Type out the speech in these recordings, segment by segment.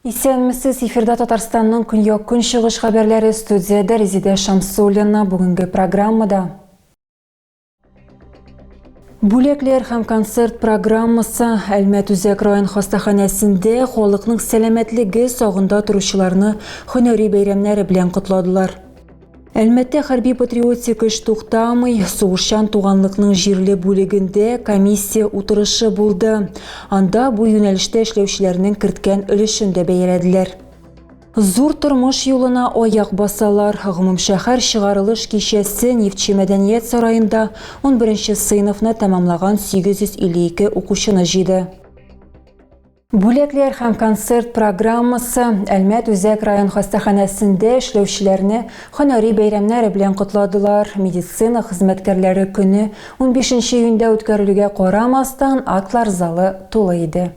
Исәнмесез, эфирда Татарстанның көньяк көнчыгыш хәбәрләре студиядә Резидә Шамсуллина бүгенге программада. Бүләкләр һәм концерт программасы Әлмәт үзәк район хастаханәсендә халыкның сәламәтлеге сагында торучыларны һөнәри бәйрәмнәре белән котладылар. Әлмәттә хәрби патриотик эш туктамый, сугышчан туганлыкның җирле бүлегендә комиссия утырышы булды. Анда бу юнәлештә эшләүчеләрнең керткән өлешен дә бәяләделәр. Зур тормыш юлына аяк басалар. Гомумшәһәр чыгарылыш кичәсе Нефтьче мәдәният сараенда унберенче сыйныфны тәмамлаган 852 укучыны җыйды. Бүләкләр һәм концерт программасы Әлмәт үзәк район хастаханәсендә эшләүчеләрне һөнәри бәйрәмнәре белән котладылар. Медицина хезмәткәрләре көне унбишенче июньдә үткәрелүгә карамастан, атлар залы тулы иде.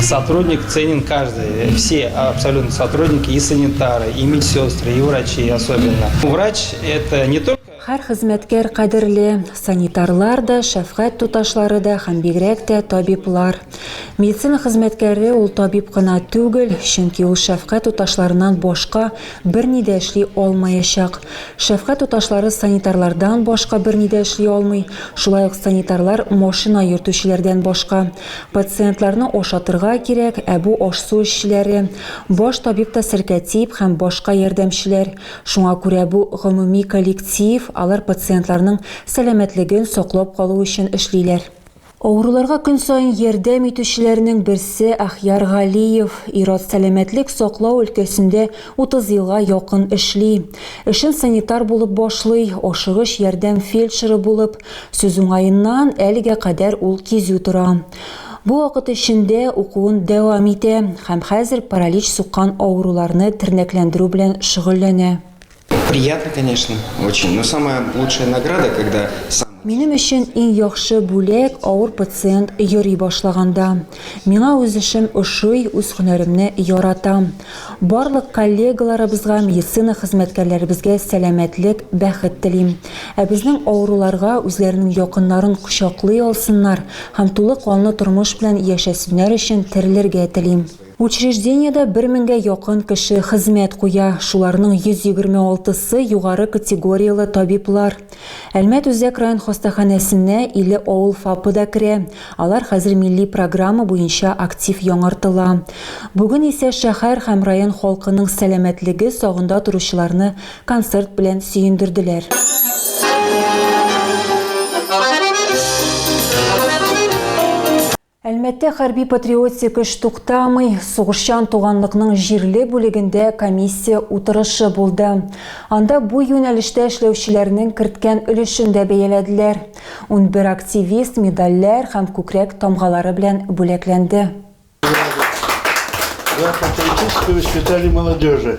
Сотрудник ценен каждый. Все абсолютно сотрудники, и санитары, и медсестры, и врачи особенно. Врач это не только... Һәр хезмәткәр кадерле, санитарлар да, шәфкать туташлары да һәм бигрәк тә табиблар. Медицина хезмәткәре ул табиб кына түгел, чөнки ул шәфкать туташларыннан башка берни дә эшли алмаячак. Шәфкать туташлары санитарлардан башка берни дә эшли алмый, шулай ук санитарлар машина йөртүчеләрдән башка. Пациентларны ашатырга кирәк, ә бу аш-су эшчеләре, баш табиб та серкә тип һәм башка ярдәмчеләр. Шуңа күрә бу гомуми коллектив, алар пациентларның сәламәтлеген саклап калу өчен эшлиләр. Авыруларга көн саен ярдәм итүчеләрнең берсе Әхьяр Галиев. Ир-ат сәламәтлек саклау өлкәсендә 30 елга якын эшли. Эшен санитар булып башлый, ашыгыч ярдәм фельдшеры булып, Сүз уңаеннан, әлегә кадәр ул кизү тора. Бу вакыт эчендә укуын дәвам итә һәм хәзер паралич суккан авыруларны тернәкләндерү белән шөгыльләнә. Приятно, конечно, очень, но самая лучшая награда, когда сам. Минем өчен иң яхшы бүләк авыр пациент йөри башлаганда. Миңа үз эшем ошый, үз һөнәремне яратам. Барлык коллегаларыбызга, медицина хезмәткәрләребезгә сәламәтлек, бәхет телим. Ә безнең авыруларга үзләренең якыннарын кочаклый алсыннар һәм тулы канлы тормыш белән яшәсеннәр өчен терелергә телим. Учреждениедә бер меңгә якын кеше хезмәт куя, шуларның 126 сы югары категорияле табиблар. Әлмәт үзәк район хастаханәсенә 50 авыл ФАПы да керә, алар хәзер милли программа буенча актив яңартыла. Бүген исә шәһәр һәм район халкының сәламәтлеге сагында торучыларны концерт белән сөендерделәр. Әлмәттә хәрби-патриотик эш туктамый. Сугышчан туганлыкның җирле бүлегендә комиссия утырышы булды. Анда бу юнәлештә эшләүчеләрнең керткән өлешен дә бәяләделәр. Унбер активист медальләр һәм күкрәк тамгалары белән бүләкләнде. За патриотическое воспитание молодежи.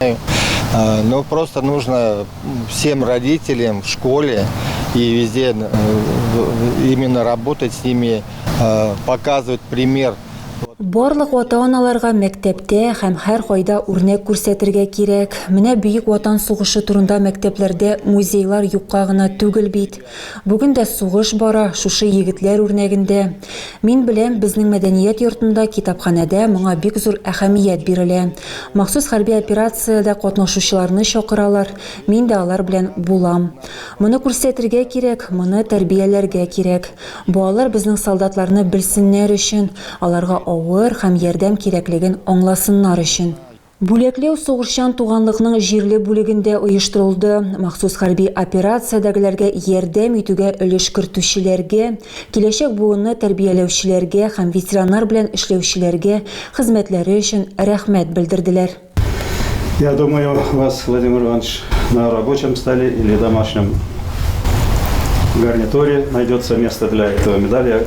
Но просто нужно всем родителям в школе и везде э, именно работать с ними, э, показывать пример. Барлык ата-аналарга мәктәптә һәм һәр кайда үрнәк күрсәтергә кирәк. Менә Бөек Ватан сугышы турында мәктәпләрдә музейлар юкка гына түгел бит. Бүген дә сугыш бара, шушы егетләр үрнәгендә. Мин беләм, безнең мәдәният йортында, китапханәдә моңа бик зур әһәмият бирелә. Махсус хәрби операциядә катнашучыларны чакыралар, мин дә алар белән булам. Моны күрсәтергә кирәк, моны тәрбияләргә кирәк. Балалар безнең солдатларны белсеннәр өчен, аларга авыр һәм ярдәм кирәклеген аңласыннар өчен. Бүләкләү сугышчан туганлыкның җирле бүлегендә оештырылды. Махсус хәрби операциядәгеләргә ярдәм итүгә өлеш кертүчеләргә, киләчәк буынны тәрбияләүчеләргә һәм ветераннар белән эшләүчеләргә хезмәтләре өчен рәхмәт белдерделәр. Я думаю вас, Владимир Иванович, на рабочем столе или домашнем гарнитуре найдется место для этого медали.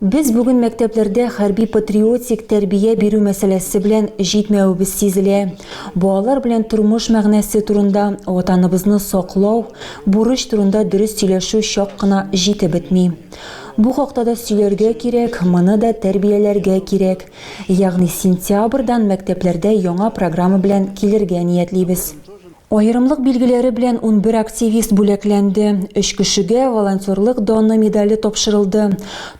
Без бүген мәктәпләрдә хәрби-патриотик тәрбия бирү мәсьәләсе белән җитмәвебез сизелә. Балалар белән тормыш мәгънәсе турында, Ватаныбызны саклау, бурыч турында дөрес сөйләшү чак кына җитеп бетми. Бу хакта да сөйләргә кирәк, моны да тәрбияләргә кирәк. Ягъни сентябрьдан мәктәпләрдә яңа программа белән килергә ниятлибез. Аерымлык билгеләре белән унбер активист бүләкләнде, өч кешегә Волонтерлык даны медале тапшырылды,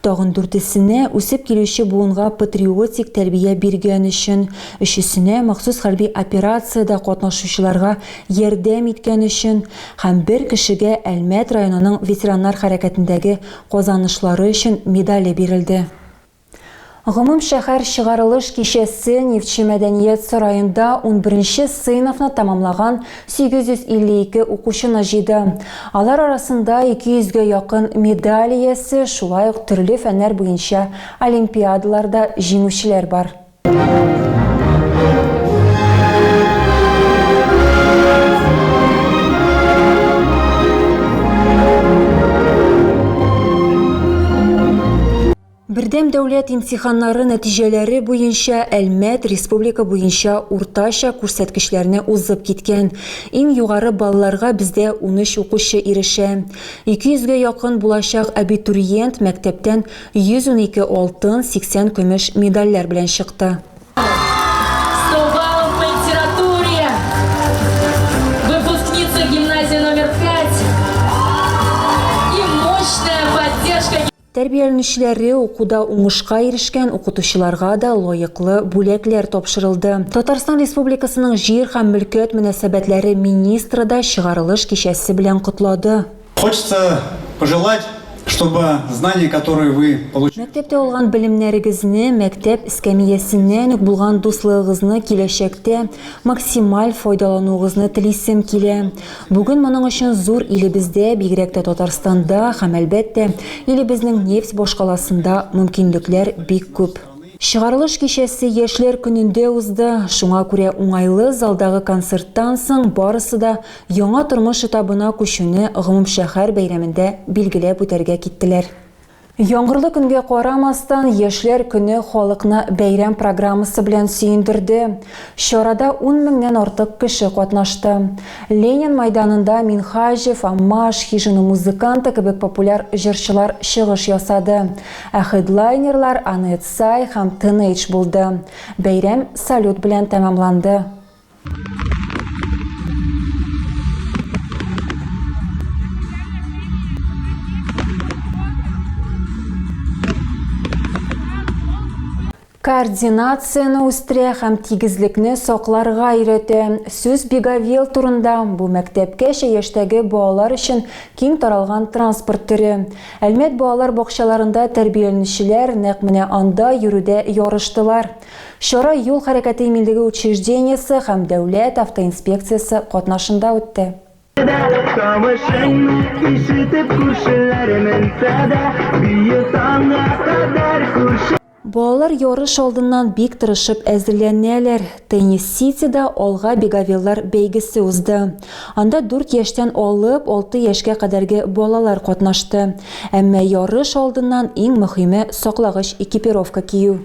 тагын дүртесенә, үсеп килүче буынга патриотик тәрбия биргән өчен, өчесенә, махсус хәрби операциядә катнашучыларга ярдәм иткән өчен һәм бер кешегә Әлмәт районының ветераннар хәрәкәтендәге казанышлары өчен медале бирелде. Гомумшәһәр чыгарылыш кичәсе Нефтьче мәдәният сараенда унберенче сыйныфны тәмамлаган 852 укучыны җыйды. Алар арасында 200 гә якын медаль иясе, шулай ук төрле фәннәр буенча олимпиадаларда җиңүчеләр бар. Бердәм дәүләт имтиханнары нәтиҗәләре буенча Әлмәт республика буенча уртача күрсәткечләрне узып киткән. Иң югары балларга бездә 13 укучы ирешә. 200 гә якын булачак абитуриент мәктәптән 112 алтын, 80 көмеш медальләр белән чыкты. Тәрбияләнүчеләре, укуда уңышка ирешкән укытучыларга да лаеклы бүләкләр тапшырылды. Татарстан Республикасының Җир һәм мөлкәт мөнәсәбәтләре министры да чыгарылыш кичәсе белән котлады. Хочется пожелать, чтобы знания, которые вы получили. Мәктәптә алган белемнәрегезне, мәктәп эскәмиясеннән үк булган дуслыгыгызны киләчәктә максималь файдалануыгызны телисем килә. Бүген моның өчен зур илебездә, бигрәк тә Татарстанда һәм, әлбәттә, илебезнең нефть башкаласында мөмкинлекләр бик күп. Чыгарылыш кичәсе Яшьләр көнендә узды, шуңа күрә уңайлы залдагы концерттан соң барысы да яңа тормыш этабына күчүне гомумшәһәр бәйрәмендә билгеләп үтәргә киттеләр. Яңгырлы көнгә карамастан, Яшьләр көне халыкны бәйрәм программасы белән сөендерде. Чарада ун меңнән артык кеше катнашты. Ленин мәйданында Минһаҗев, Аммаш, Хижина музыканты кебек популяр җырчылар чыгыш ясады, ә хедлайнерлар Анет Сай һәм Тенейдж булды. Бәйрәм салют белән тәмамланды. координацияны үстерә һәм тигезлекне сакларга өйрәтә. Сүз Бегавел турында бу мәктәпкәчә яшьтәге балалар өчен киң таралган транспорт төре. Әлмәт балалар бакчаларында тәрбияләнүчеләр нәкъ менә анда йөрүдә ярыштылар. Чара Юл хәрәкәте иминлеге учреждениесе һәм Дәүләт автоинспекциясе катнашында үтте. Тавышын ишетеп күршеләр менсә дә, бию таңга кадәр күрше. Балалар ярыш алдыннан бик тырышып әзерләнәләр. Теннис Ситида Алга Бегавиллар бәйгесе узды. Анда дүрт яшьтән алып алты яшькә кадәрге балалар катнашты. Әмма ярыш алдыннан иң мөһиме саклагыч экипировка кию.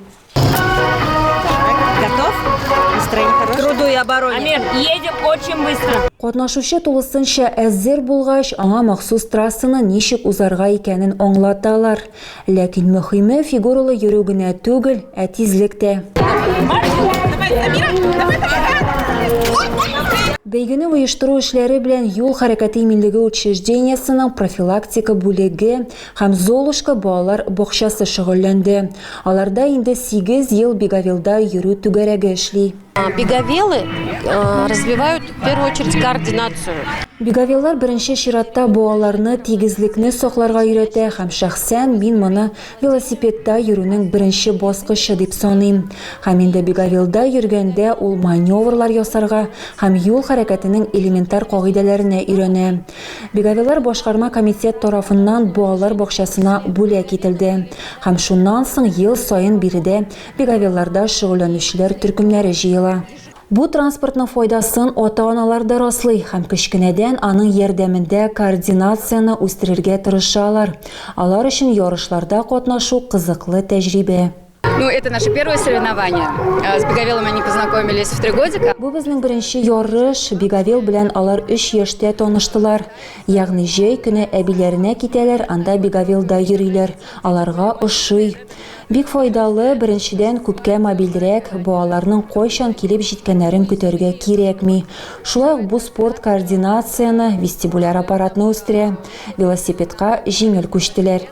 Катнашучы тулысынча әзер булгач, аңа махсус трассаны ничек узарга икәнен аңлаталар. Ләкин мөхиме фигуралы йөрү генә түгел, ә тизлек тә. Бәйгене оештыру эшләре белән Юл хәрәкәте иминлеге учреждениесенең профилактика бүлеге, һәм Золушка балалар бакчасы шөгыльләнде. Аларда инде сигез ел Бегавилда йөрү түгәрәге эшли. Бегавилы развивают в первую очередь координацию. Бегавиллар беренче чиратта балаларны тигезлекне сакларга өйрәтә һәм шәхсән мин моны велосипедта йөрүнең беренче баскычы дип саныйм. Һәм инде Бегавилда йөргәндә ул маневрлар ясарга һәм юл хәрәкәтенең элементар кагыйдәләренә өйрәнә. Бегавилар башкарма комитет тарафыннан балалар бакчасына бүләк ителде һәм шуннан соң ел саен биредә бегавиларда шөгыльләнүчеләр төркемнәре җыела. Бу транспортның файдасын ата-аналар да раслый һәм кечкенәдән аның ярдәмендә координацияне үстерергә тырышалар, алар өчен ярышларда катнашу кызыклы тәҗрибә. Ну, это наше первое соревнование. С Беговелом они познакомились в три годика. Бу безнең беренче ярыш. Беговел белән алар 3 яшьтә таныштылар. Ягъни җәй көне әбиләренә китәләр, анда Беговелда йөриләр. Аларга ошый. Бик файдалы, беренчедән күпкә мобильрәк, балаларның кайчан килеп җиткәннәрен көтәргә кирәкми. Шулай ук бу спорт координацияне, вестибуляр аппаратны үстерә. Велосипедка җиңел күчтеләр.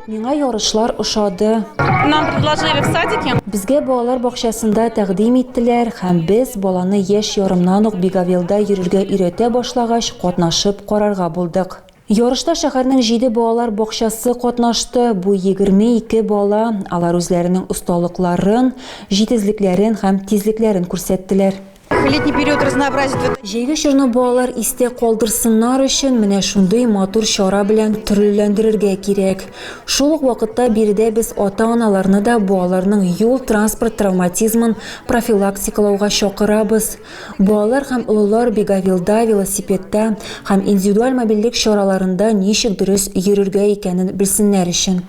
Миңа ярышлар ошады. Нам предложили в садике. Безгә балалар бакчасында тәкъдим иттеләр һәм без, баланы яшь ярымнан ук Бегавелда йөрергә өйрәтә башлагач, катнашып карарга булдык. Ярышта шәһәрнең җиде балалар бакчасы катнашты, бу егерме ике бала, алар үзләренең осталыкларын, җитезлекләрен һәм тизлекләрен күрсәттеләр. Летний период разнообразит. Җәйге чорны балалар истә калдырсыннар өчен, менә шундый матур чара белән төрлеләндерергә кирәк. Шул ук вакытта биредә без ата-аналарны да балаларның юл-транспорт травматизмын профилактикалауга чакырабыз. Балалар һәм олылар бегавилда, велосипедта һәм индивидуаль мобильлек чараларында ничек дөрес йөрергә икәнен белсеннәр өчен.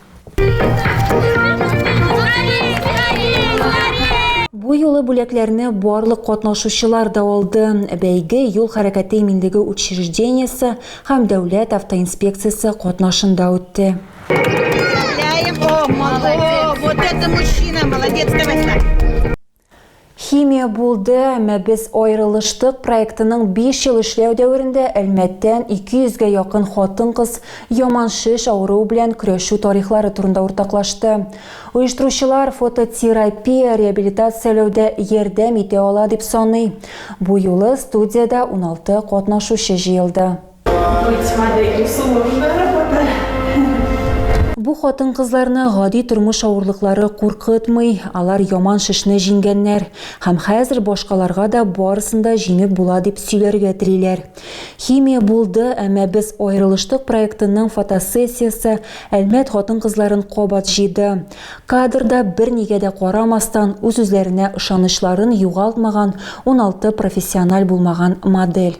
Бу юлы бүләкләрне барлык катнашучылар да алды. Бәйге юл хәрәкәте иминлеге учреждениесе һәм дәүләт автоинспекциясе катнашында үтте. Ляев, о, молодец. Вот это мужчина, молодец, давай, Химия булды, әмма без аерылыштык проектының биш ел эшләү дәверендә Әлмәттән 200 гә якын хатын-кыз яман шеш авыруы белән көрәшү тарихлары турында уртаклашты. Оештыручылар фототерапия реабилитацияләүдә ярдәм итә ала дип саный. Бу юлы студиядә 16 катнашучы җыелды. Бу хатын-кызларны гади тормыш авырлыклары куркытмый, алар яман шешне җиңгәннәр һәм хәзер башкаларга да барысын да җиңеп була дип сөйләргә телиләр. Химия булды, әмма без аерылыштык проектының фотосессиясе Әлмәт хатын-кызларын кабат җыйды. Кадрда бернигә дә карамастан, үз-үзләренә ышанычларын югалтмаган уналты профессиональ булмаган модель.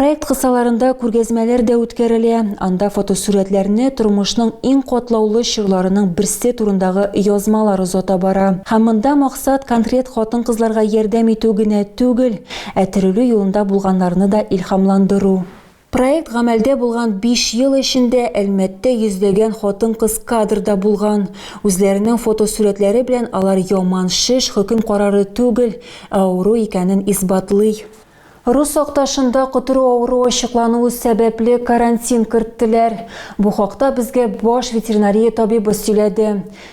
Проект кысаларында күргәзмәләр дә үткәрелә, анда фотосурәтләрне тормышның иң катлаулы чорларының берсе турындагы язмалар озата бара. Һәм монда максат конкрет хатын-кызларга ярдәм итү генә түгел, ә терелү юлында булганнарны да илһамландыру. Проект гамәлдә булган биш ел эчендә Әлмәттә йөзләгән хатын-кыз кадрда булган. Үзләренең фотосурәтләре белән алар яман шеш хөкем карары түгел, ә авыру икәнен исбатлый. Рус акташында котыру авыруы ачыклануы сәбәпле карантин керттеләр. Бу хакта безгә баш ветеринария табибы сөйләде.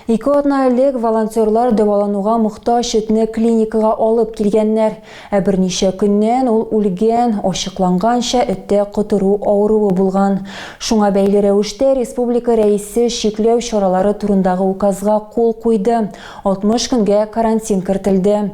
Ике атна элек волонтерлар дәвалануга мохтаҗ этне клиникага алып килгәннәр, ә берничә көннән ул үлгән, ачыкланганча, эттә котыру авыруы булган. Шуңа бәйле рәвештә республика рәисе чикләү чаралары турындагы указга кул куйды, 60 көнгә карантин кертелде.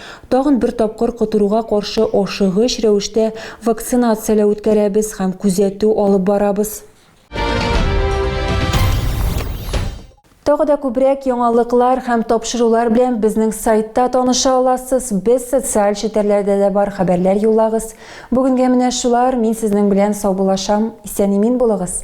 Тагын бер тапкыр котыруга каршы ашыгыч рәвештә вакцинацияләү үткәрәбез һәм күзәтү алып барабыз. Тагы да күбрәк яңалыклар һәм тапшырулар белән безнең сайтта таныша аласыз. Без социаль челтәрләрдә дә бар, хәбәрләр юллагыз. Бүгенгә менә шулар, мин сезнең белән саубулашам. Исән-имин булыгыз!